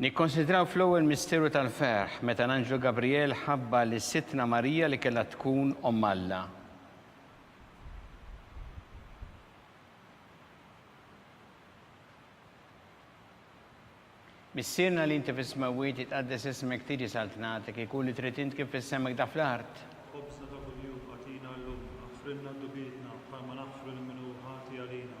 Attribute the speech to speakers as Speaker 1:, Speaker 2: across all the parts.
Speaker 1: Nikkonsidraw fl-ewwel misteru tal-ferħ meta l-anġlu Gabrijel ħabbar lis Sidtna Marija li kellha tkun Omm Alla. Missierna li inti fis-smewwiet jitqaddes ismek tiġi saltnatek ikun li trid int kif fis-semek da fl-art. Ħobżna ta' kuljum agħtina llum, aħfrilna d-dnubietna bħalma naħfru lil min hu ħati għalina.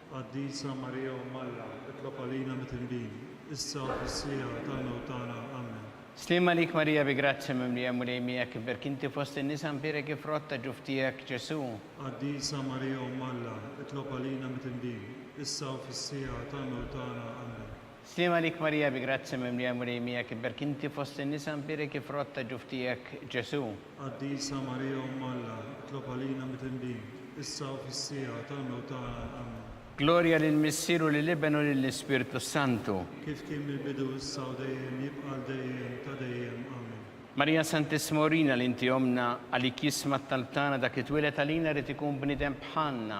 Speaker 1: Qaddisa Marija Omm Alla, itlob għalina mitindin, issa u fis-siegħa tal-mewt tagħna. Ammen. Sliem għalik Marija bi grazzja mimlija Mulej miegħek iberk inti fost in-nisa nbierek ifrott ta' ġuf tiegħek Ġesù. Qaddisa Marija Omm Alla, itlob għalina mitindin, issa u fis-siegħa tal-mewt tagħna. Ammen. Sliem għalik Marija bi grazzja mimlija l-Mulej miegħek iberk inti fost in-nisa nbierek il-frott ta' ġuf tiegħek Ġesù. Qaddisa Marija Omm Alla, itlob għalina mitindin, issa u fis-siegħa tal-mewt tagħna. Ammen. Glorja lill-Missier u lill-Iben u lill-Ispirtu s-Santu. Kif kien mill-bidu, issa u dejjem, jibqa' għal dejjem ta' dejjem. Ammen. Marija Santissima urina li inti ommna, għalik jisma' t-talb tagħna dak li twieled għalina jrid ikun bniedem bħalna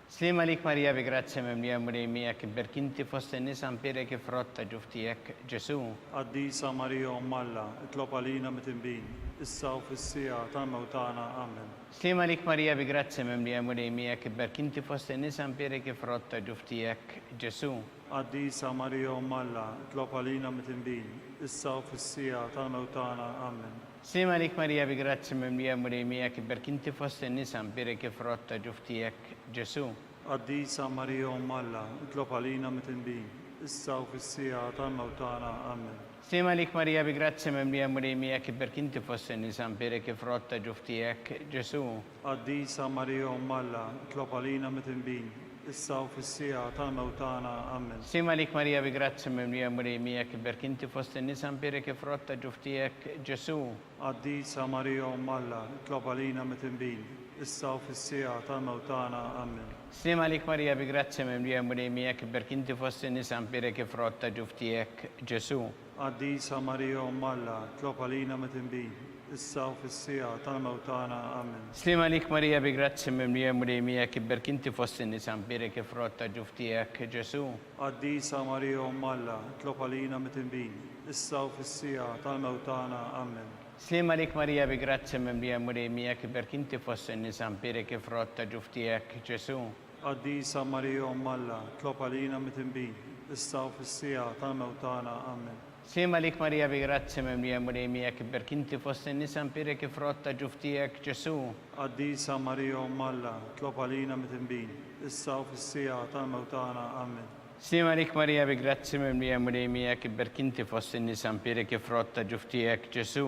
Speaker 1: Sliem għalik Marija bi grazzja mimlija l-Mulej miegħek ibberk inti fost in-nisa mpierek il-frott ta' ġuf tiegħek Ġesù. Qaddisa Marija Omm Alla, itlob għalina mitinbin, issa u fis-siegħa tal-mewt tagħna. Amen. Sliem għalik Marija bi grazzja mimlija l-Mulej miegħek ibberk inti fost in-nisa mpierek il-frott ta' ġuf tiegħek Ġesù. Qaddisa Marija Omm Alla, itlob għalina mitinbin, issa u fis-siegħa tal-mewt tagħna. Amen. Slim għalik Marija bi grazzja mimlija l-Mulej miegħek iberk inti fost in-nisa mbierek il-frott ta' ġuf tiegħek Ġesù. Qaddisa Marija Omm Alla, itlob għalina mitindbin, issa u fis-siegħa tal-mewt tagħna. Amen. Slim għalik Marija bi grazzja mimlija l-Mulej miegħek iberk inti fost in-nisa mbierek il-frott ta' ġuf tiegħek Ġesù. Qaddisa Marija Omm Alla, itlob għalina mitnbin, issa u fis-siegħa tal-mewt tagħna. Ammen. Slim għalik Marija bi grazzja mimlija l-Mulej miegħek, ibberk inti fost in-nisa mbierek il-frott ta' ġuf tiegħek, Ġesù. Qaddisa Marija Omm Alla, itlob għalina mitnbin, issa u fis-siegħa tal-mewt tagħna. Ammen. Slim għalik Marija bi grazzja mimlija l-Mulej miegħek, ibberk inti fost in-nisa mbierek il-frott ta' ġuf tiegħek, Ġesù. Qaddisa Marija Omm Alla, tlob għalina metin bih, issa u fis-siegħa tal-mewt tagħna. Amen. Sliem għalik Marija bi grazzja mimlija l-Mulej miegħek ibberk inti fost in-nisa mbierek il-frott ta' ġuf tiegħek Ġesù. Qaddisa Marija Omm Alla, tlob għalina metin bih, issa u fis-siegħa tal-mewt tagħna. Amen. Sliem għalik Marija bi grazzja mimlija l-Mulej miegħek ibberk inti fost in-nisa mbierek il-frott ta' ġuf tiegħek Ġesù. Qaddisa Marija Omm Alla, tlob għalina mitinbin, issa u fis-siegħa tal-mewt tagħna. Ammen. Sliem għalik Marija bi grazzja mimlija l-Mulej miegħek ibberk inti fost in-nisa mpierek il-frott ta' ġuf tiegħek Ġesù. Qaddisa Marija Omm Alla, tlob għalina mitinbin, issa u fis-siegħa tal-mewt tagħna. Ammen. Sliem għalik Marija bi grazzja mimlija l-Mulej miegħek ibberk inti fost in-nisa mpierek il-frott ta' ġuf tiegħek Ġesù.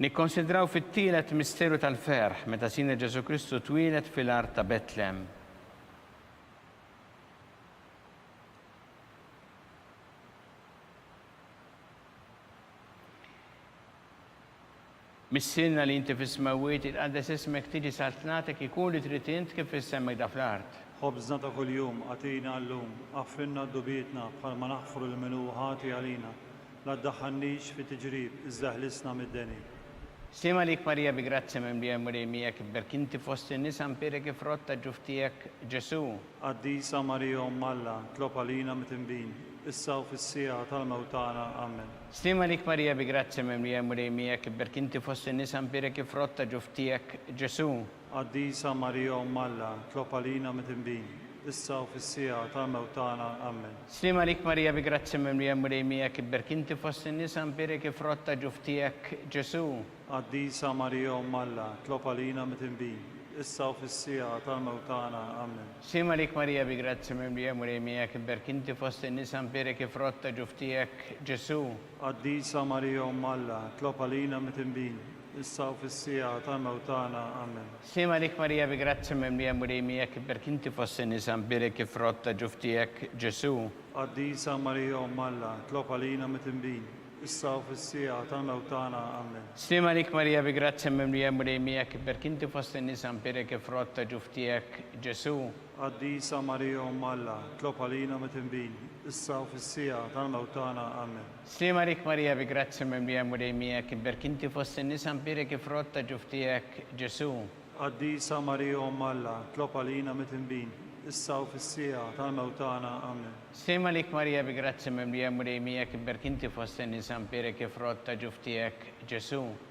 Speaker 1: Nikkonsidraw fit-tielet misteru tal-ferħ meta Sidna Ġesù Kristu twieled fil-art ta' Betlem. Missierna li inti fis-smewwiet itqaddes ismek tiġi saltnatek ikun li trid int kif fis-sema jda fl-art. Ħobżna ta' kuljum agħtina llum. Aħfrilna d-dubjietna bħalma naħfru lil min hu ħati għalina. La ddaħħalnix fi tiġrib, iżda ħlisna mid-deni. Slim għalik Marija bi grazzja mimlija l-Mulej miegħek ibberk inti fost in-nisa nbierek il-frott ta' ġuf tiegħek Ġesù. Qaddisa Marija Omm Alla, tlob għalina mtinbin, issa u fis-siegħa tal-mewt tagħna. Amen. Slim għalik Marija bi grazzja mimlija l-Mulej miegħek ibberk inti fost in-nisa nbierek il-frott ta' ġuf tiegħek Ġesù. Qaddisa Marija Omm Alla, tlob għalina midinbin, issa u fis-siegħa tal-mewt tagħna. Ammen. Sliem għalik Marija bi grazzja mimlija l-Mulej miegħek ibberk inti fost in-nisa nbierek il-frott ta' ġuf tiegħek Ġesù. Qaddisa Marija Omm Alla, tlob għalina midinbin, issa u fis-siegħa tal-mewt tagħna. Ammen. Sliem għalik Marija bi grazzja mimlija l-Mulej miegħek ibberk inti fost in-nisa nbierek il-frott ta' ġuf tiegħek Ġesù. Qaddisa Marija Omm Alla, tlob għalina midinbin, issa u fis-siegħa ta' mewt tagħna. Amen. Slim għalik Marija bi grazzja mimlija Mulej miegħek iberk inti fost in-nisa nbierek ifrott ta' ġuf tiegħek Ġesu'. Qaddisa Marija Omm Alla tlob għalina mitnbin issa u fis-siegħa ta' mewt tagħna. Amen. Slim għalik Marija bi grazzja mimlija Mulej miegħek iberk inti fost in-nisa nbierek ifrott ta' ġuf tiegħek Ġesu'. Qaddisa Marija Omm Alla tlob għalina mitnbin issa u fis-siegħa ta' mewt tagħna. Amen. Slim għalik Marija bi grazzja mimlija l-Mulej miegħek, iberk inti fost in-nisa mbierek il-frott ta' ġuf tiegħek Ġesu'. Qaddisa Marija Omm Alla, tlob għalina mitnbin, issa u fis-siegħa tal-mewt tagħna. Amen. Slim għalik Marija bi grazzja mimlija l-Mulej miegħek, iberk inti fost in-nisa mbierek il-frott ta' ġuf tiegħek Ġesu'.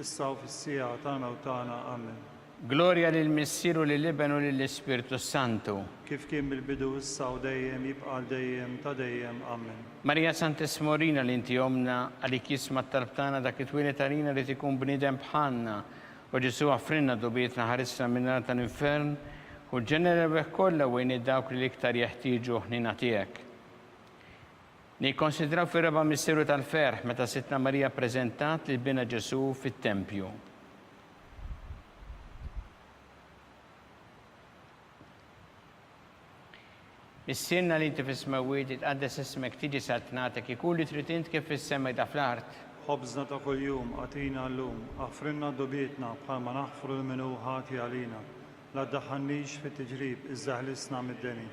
Speaker 1: issa u fis-siegħa tagħna u tagħna. Amen. Glorja lill-Missier u lill-Iben u lill-Ispirtu s-Santu. Kif kien mill-bidu, issa u dejjem, jibqa' għal dejjem ta' dejjem. Amen. Marija Santess Morina li inti ommna, għalik jisma' t-talb tagħna dak li twieled għalina ried ikun bniedem bħalna. O Ġesù aħfrilna dubjietna ħarisna min-nar tal-infern u l-ġeneri rebbieħ kollha u għin lil dawk li l-iktar jeħtieġu ħniena tiegħek. Nikkonsidraw fir-raba' misteru tal-ferħ meta Sidtna Marija ppreżentat lil binha Ġesù fit-tempju. Missierna li inti fis-smewwiet, itqaddes ismek, tiġi saltnatek, ikun li trid int kif fis-sema jda fl-art. Ħobżna ta' kuljum agħtina llum, aħfrilna dnubietna bħalma naħfru lil min hu ħati għalina, la ddaħħalnix fit-tiġrib iżda ħlisna mid-deni.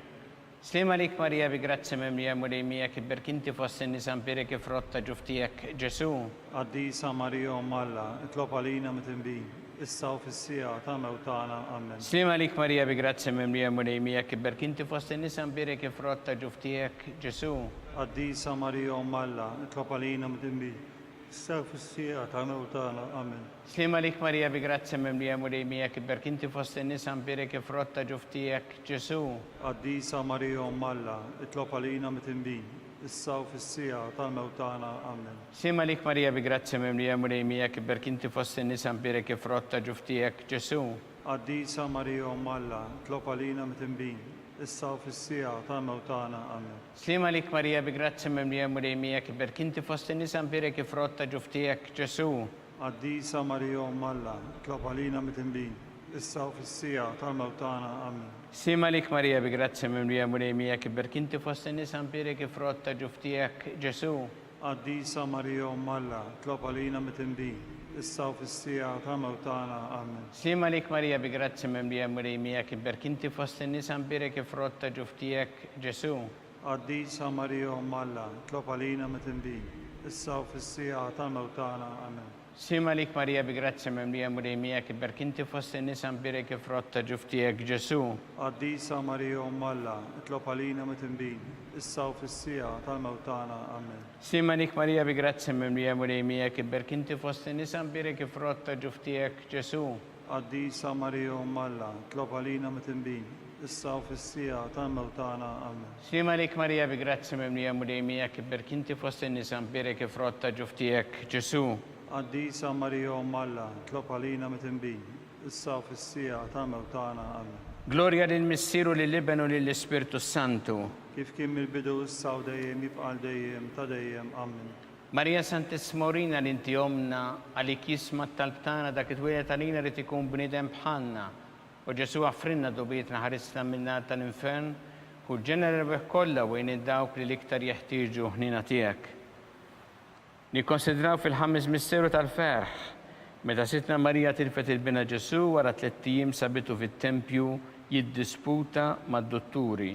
Speaker 1: Sliem għalik Marija bi grazzja mimlija Mulej miegħek ibberk inti fost in-nisa nbierek il-frott ta' ġuf tiegħek Ġesu'. Qaddisa Marija Omm Alla, itlob għalina mdnbin, issa u fis-siegħa ta' mewtana. Ammen. Sliem għalik Marija bi grazzja mimlija Mulej miegħek ibberk inti fost in-nisa nbierek il-frott ta' ġuf tiegħek Ġesu'. Qaddisa Marija Omm Alla, itlob għalina mdnbin, issa u fis-siegħa ta' mewtana. Ammen. Sliem għalik Marija bi grazzja mimlija l-Mulej miegħek iberk inti fost in-nisa nbierek il-frott ta' ġuf tiegħek Ġesù. Qaddisa Marija Omm Alla, itlob għalina mitindbin, issa u fis-siegħa tal-mewt tagħna. Amen. Sliem għalik Marija bi grazzja mimlija l-Mulej miegħek iberk inti fost in-nisa nbierek il-frott ta' ġuf tiegħek Ġesù. Qaddisa Marija Omm Alla, itlob għalina mitindbin, issa u fis-siegħa tal-mewt tagħna. Amen. Sliem għalik Marija bi grazzja mimlija l-Mulej miegħek iberk inti fost in-nisa nbierek il-frott ta' ġuf tiegħek Ġesù. Qaddisa Marija Omm Alla, itlob għalina midinbin, issa u fis-siegħa tal-mewt tagħna. Amin. Slim għalik Marija bi grazzja mimlija Mulej miegħek ibberk inti fost in-nisa nbierek ifrott ta' ġuf tiegħek Ġesu. Qaddisa Marija Omm Alla, itlob għalina midinbin, issa u fis-siegħa tal-mewt tagħna. Amin. Slim għalik Marija bi grazzja mimlija Mulej miegħek ibberk inti fost in-nisa nbierek ifrott ta' ġuf tiegħek Ġesu. Qaddisa Marija Omm Alla, itlob għalina mitindbin, issa u fis-siegħa ta' mewt tagħna. Amen. Slim għalik Marija bi grazzja mimlija Mulej miegħek, iberk inti fost in-nisa nbierek il-frott ta' ġuf tiegħek Ġesu'. Qaddisa Marija Omm Alla, itlob għalina mitindbin, issa u fis-siegħa ta' mewt tagħna. Amen. Slim għalik Marija bi grazzja mimlija Mulej miegħek, iberk inti fost in-nisa nbierek il-frott ta' ġuf tiegħek Ġesu'. Qaddisa Marija Omm Alla, tlob għalina mitnbin, issa u fis-siegħa tal-mewt tagħna. Amen. Slim għalik Marija bi grazzja mimlija l-Mulej miegħek, ibberki inti fost in-nisa, mbierek il-frott ta' ġuf tiegħek, Ġesu'. Qaddisa Marija Omm Alla, tlob għalina mitnbin, issa u fis-siegħa tal-mewt tagħna. Amen. Glorja lill-Missier u lill-Iben u lill-Ispirtu s-Santu. Kif kien mill-bidu, issa u dejjem, jibqa' għal dejjem ta' dejjem. Amen. Marija Santissima urina li inti ommna, għalik jisma' t-talb tagħna dak itwieled għalina jrid ikun bniedem bħalna. O Ġesù aħfrilna dugħbietna ħarisna min-nar tal-infern, kun ġenna l-erbegħ kollha u għin lil dawk li l-iktar jeħtieġu l-ħniena tiegħek. Nikkonsidraw fil-Ħames Misteru tal-Ferħ, meta Sidtna Marija tilfet il-binha Ġesù wara tlett ijiem sabitu fit-tempju jiddisputa mad-dutturi.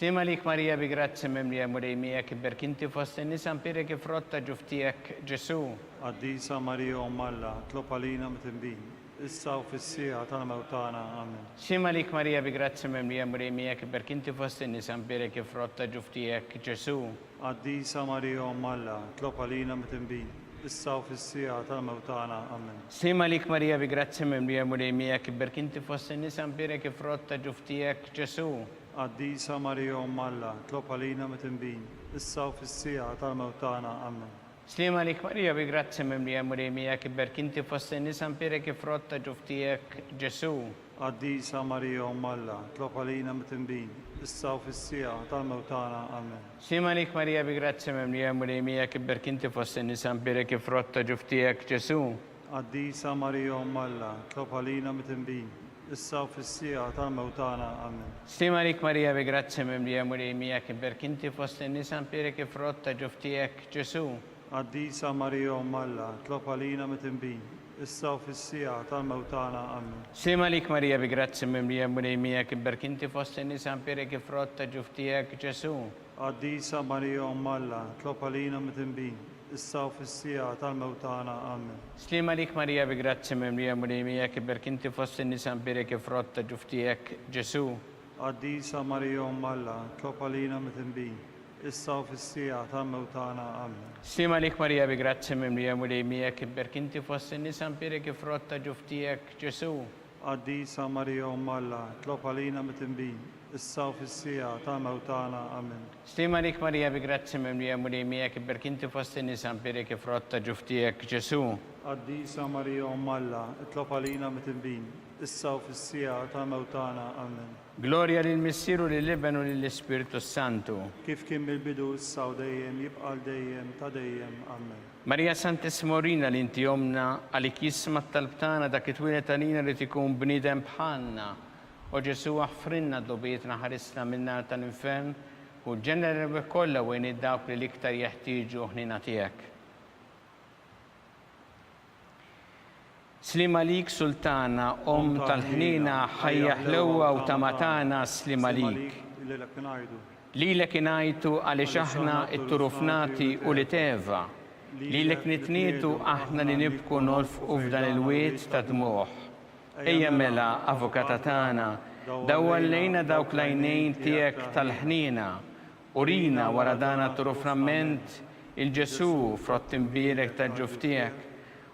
Speaker 1: Slim għalik Marija bi grazzja mimlija Mulej miegħek ibberk inti fost in-nisa npierek il-frott ta' ġuf tiegħek Ġesu'. Qaddisa Marija Omm Alla, tlob għalina mtinbin, issa u fis-siegħa tal-mewt tagħna. Amen. Slim għalik Marija bi grazzja mimlija Mulej miegħek ibberk inti fost in-nisa npierek il-frott ta' ġuf tiegħek Ġesu'. Qaddisa Marija Omm Alla, tlob għalina mtinbin, issa u fis-siegħa tal-mewt tagħna. Amen. Slim għalik Marija bi grazzja mimlija Mulej miegħek ibberk inti fost in-nisa npierek il-frott ta' ġuf tiegħek Ġesu'. Qaddisa Marija Omm Alla, tlob għalina mitinbin, issa u fis-siegħa tal-mewt tagħna. Ammen. Sliema għalik Marija bi grazzja mimlija l-Mulej hi miegħek, ibberk inti fost in-nisa npierek il-frott ta' ġuf tiegħek Ġesù. Qaddisa Marija Omm Alla, tlob għalina mitinbin, issa u fis-siegħa tal-mewt tagħna. Ammen. Sliema għalik Marija bi grazzja mimlija l-Mulej hi miegħek, ibberk inti fost in-nisa npierek il-frott ta' ġuf tiegħek Ġesù. Qaddisa Marija Omm Alla, tlob għalina mitinbin, issa u fis-siegħa tal-mewt tagħna. Amen. Slim għalik Marija bi grazzja mimlija l-Mulej miegħek iberk inti fost in-nisa nbierek il-frott ta' ġuf tiegħek, Ġesù. Qaddisa Marija Omm Alla, tlob għalina mitinbin, issa u fis-siegħa tal-mewt tagħna. Amen. Slim għalik Marija bi grazzja mimlija l-Mulej miegħek iberk inti fost in-nisa nbierek il-frott ta' ġuf tiegħek, Ġesù. Qaddisa Marija Omm Alla, tlob għalina mitinbin, issa u fis-siegħa tal-mewt tagħna. Amen. Sliem għalik Marija bi grazzja mimlija l-Mulej miegħek iberk inti fost in-nisa mbierek il-frott ta' ġuf tiegħek Ġesù. Qaddisa Marija Omm Alla, tlob għalina mitinbin, issa u fis-siegħa tal-mewt tagħna. Amen. Sliem għalik Marija bi grazzja mimlija l-Mulej miegħek iberk inti fost in-nisa mbierek il-frott ta' ġuf tiegħek Ġesù. Qaddisa Marija Omm Alla, tlob għalina mitinbin, issa u fis-siegħa ta' mewt tagħna. Amen. Stima għalik Marija bi grazzja mimlija Mulej miegħek ibberki inti fost in-nisa nbierek il-frott ta' ġuf tiegħek Ġesu'. Qaddisa Marija Omm Alla, itlob għalina mitnbin, issa u fis-siegħa ta' mewt tagħna. Amen. Glorja lill-Missier u lill-Iben u lill-Ispirtu s-Santu. Kif kien mill-bidu, issa u dejjem, jibqa' għal dejjem ta' dejjem. Amen. Marija Santissima urina li inti Ommna, għalik jisma' t-talb tagħna dak li twieled għalina jrid ikun bniedem bħalna, O Ġesù, aħfrilna d-dogħbietna ħarisna min-nar tal-infern u l-ġeneri kollha u għin dawk li l-iktar jeħtieġu ħniena tiegħek. Sliem għalik Sultana, Omm tal-ħniena, ħajja ħlewwa u tama tagħna, sliem għalik. Lilek ingħajtu għaliex aħna t-turufnati u l-iteva, lilek nitnietu aħna li nibku nolfqu f'dan il-wied tad-dmugħ. Ejja mela, Avukata tagħna, dawwal lejna dawk l-għajnejn tiegħek tal-ħniena. Urina, wara dan għat-turu framment, il-Ġesù, frott imbierek taġ-ġuf tiegħek.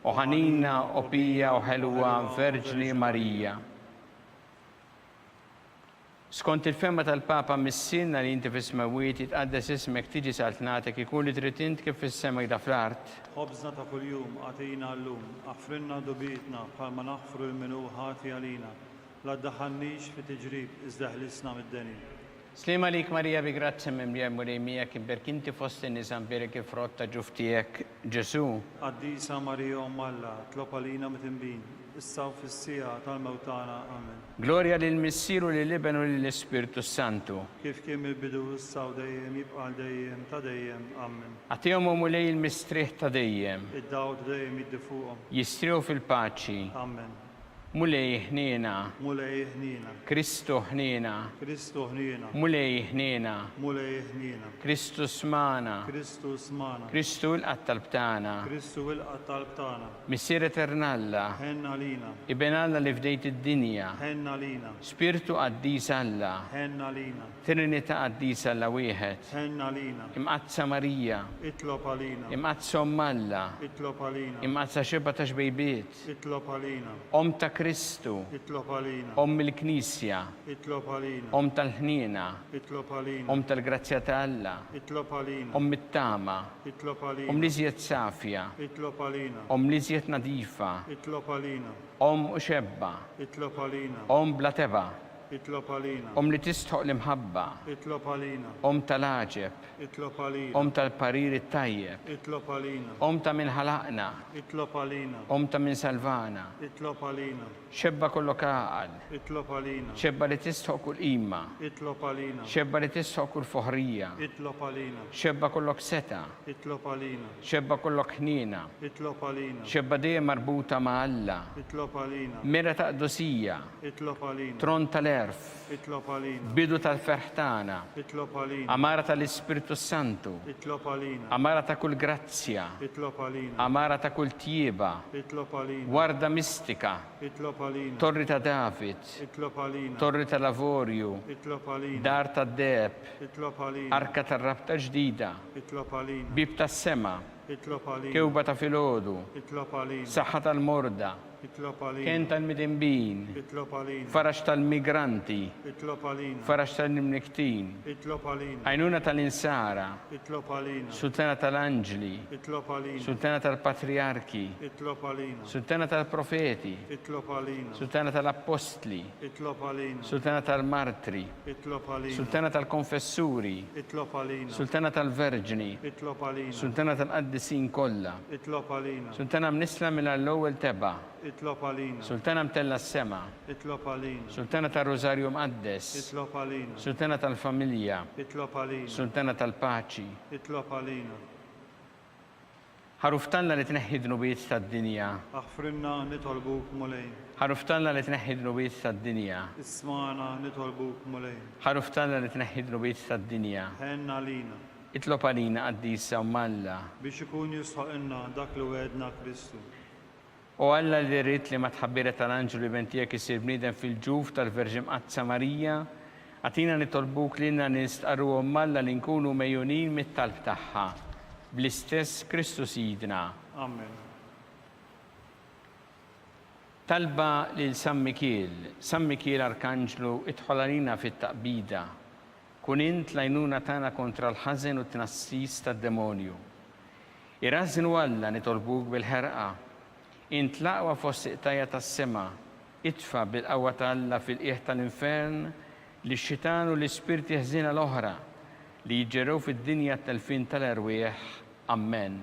Speaker 1: O ħanina, o pija, o ħelwa Verġni Marija! Skont il-fehma tal-Papa Missierna li inti fis-smewwiet, jitqaddes ismek, tiġi saltnatek, ikun li trid int kif fis-sema jda fl-art. Ħobżna ta' kuljum agħtina llum. Aħfrilna dubitna bħalma naħfru lil min hu ħati għalina. La ddaħħalnix fi tiġrib, iżda eħlisna mid-deni. Sliem għalik Marija bi grazzja mimlija l-Mulej miegħek, imberk inti fost in-nisa mbierek il-frott ta' ġuf tiegħek Ġesu'. Qaddisa Marija Omm Alla, tlob għalina mit-tinbin. issa u fis-siegħa tal-mewt tagħna. Amen. Glorja lill-Missier u lill-Iben u lill-Ispirtu s-Santu. Kif kien mill-bidu, issa u dejjem, jibqa' għal dejjem ta' dejjem. Amen. Agħtihom, O Mulej, il-mistrieħ ta' dejjem. Id-dawl ta' dejjem jiddi fuqhom. Jistrieħu fil-paċi. Amen. Mulej, ħniena. Mulej, ħniena. Kristu, ħniena. Kristu, ħniena. Mulej, ħniena. Mulej, ħniena. Kristu, smagħna. Kristu, smagħna. Kristu, ilqa' t-talb tagħna. Kristu, ilqa' t-talb tagħna. Missier Etern'Alla. Ħenn għalina. Iben Alla li fdejt id-dinja. Ħenn għalina. Spirtu Qaddis Alla. Ħenn għalina. Trinita' Qaddisa Alla Wieħed. Ħenn għalina. Imqaddsa Marija. Itlob għalina. Imqaddsa Omm Alla. Itlob għalina. Imqaddsa Xebgħa ta' Xbejbiet. Itlob għalina. Omm ta' Kristu. Itlob għalina. Omm il-Knisja. Itlob għalina. Omm tal-ħniena. Itlob għalina. Omm tal-grazzja ta' Alla. Itlob għalina. Omm it-tama. Itlob għalina. Omm l-iżjed safja. Itlob għalina. Omm l-iżjed nadifa. Itlob għalina. Omm u xebba. Itlob għalina. Omm bla tebgħa. Itlob għalina. Omm li tistħoq l-imħabba. Itlob għalina. Omm tal-għaġeb. Itlob għalina. Omm tal-parir it-tajjeb. Itlob għalina. Omm ta' min ħalaqna. Itlob għalina. Omm ta' min salvana. Itlob għalina. Xebba kollok għaqal. Itlob għalina. Xebba li tistħoq kull qima. Itlob għalina. Xebba li tistħoq kull foħrija. Itlob għalina. Xebba kollok setgħa. Itlob għalina. Xebba kollok ħniena. Itlob għalina. Xebba dejjem marbuta ma' Alla. Itlob għalina. Mira ta' qdusija. Itlob għalina. Tron tal-għerf. Itlob għalina. Bidu tal-ferħ tagħna. Itlob għalina. Għamara tal-Ispirtu s-Santu. Itlob għalina. Għamara ta' kull grazzja. Itlob għalina. Għamara ta' kull tjieba. Itlob għalina. Warda mistika. Itlob għalina. Torri ta' David. Itlob għalina. Torri tal-Avorju. Itlob għalina. Dar tad-Deheb. Itlob għalina. Arka tar-Rabta Ġdida. Itlob għalina. Bieb tas-Sema. Itlob għalina. Kewba ta' filgħodu. Itlob għalina. Saħħa tal-morda. Itlob għalina. Kenn tal-midinbin. Itlob għalina. Faraġ tal-migranti. Itlob għalina. Faraġ tal-imnikktin. Itlob għalina. Għajnuna tal-insara. Itlob għalina. Sultana tal-anġli. Itlob għalina. Sultana tal-patrijarki. Itlob għalina. Sultana tal-profeti. Itlob għalina. Sultana tal-appostli. Itlob għalina. Sultana tal-martri. Itlob għalina. Sultana tal-Konfessuri. Itlob għalina. Sultana tal-Verġni. Itlob għalina. Sultana tal-Qaddisin kollha. Itlob għalina. Sultana mnissla mingħajr l-ewwel tebgħa. Itlob għalina. Sultana mtellgħa s-sema. Itlob għalina. Sultana tar-Rużarju Mqaddes. Itlob għalina. Sultana tal-Familja. Itlob għalina. Sultana tal-Paċi. Itlob għalina. Ħaruf t'Alla li tneħħi d-dnubiet tad-dinja. Aħfrilna nitolbuk Mulej. Ħaruf t'Alla li tneħħi d-dnubiet tad-dinja. Ismagħna nitolbuk Mulej. Ħaruf t'Alla li tneħħi d-dnubiet tad-dinja. Ħenn għalina. Itlob għalina Qaddisa Omm Alla. Biex ikun jistħoqqilna dak li wegħedna Kristu. O Alla li ridt li mat-tħabbira tal-anġlu l-Iben Tiegħek isir bniedem fil-ġuf tal-Verġi Mqaddsa Marija, agħtina nitolbuk lilna li nistqarruhom m'Alla li nkunu megħjunin mit-talb tagħha. Bl-istess Kristu Sidna. Amen. Talba lil San Mikiel, San Mikiel Arkanġlu, idħol għalina fit-taqbida. Kun int l-għajnuna tagħna kontra l-ħażen u t-tnassis tad-demonju. Irażżin u Alla nitolbuk bil-ħerqa. Int l-aqwa fost iqtajja tas-sema, itfa' bil-qawwa ta' Alla fil-qiegħ tal-infern lix-xitan u l-ispirti ħżiena l-oħra li jiġġerrew fid-dinja t-telfien tal-erwieħ. Ammen.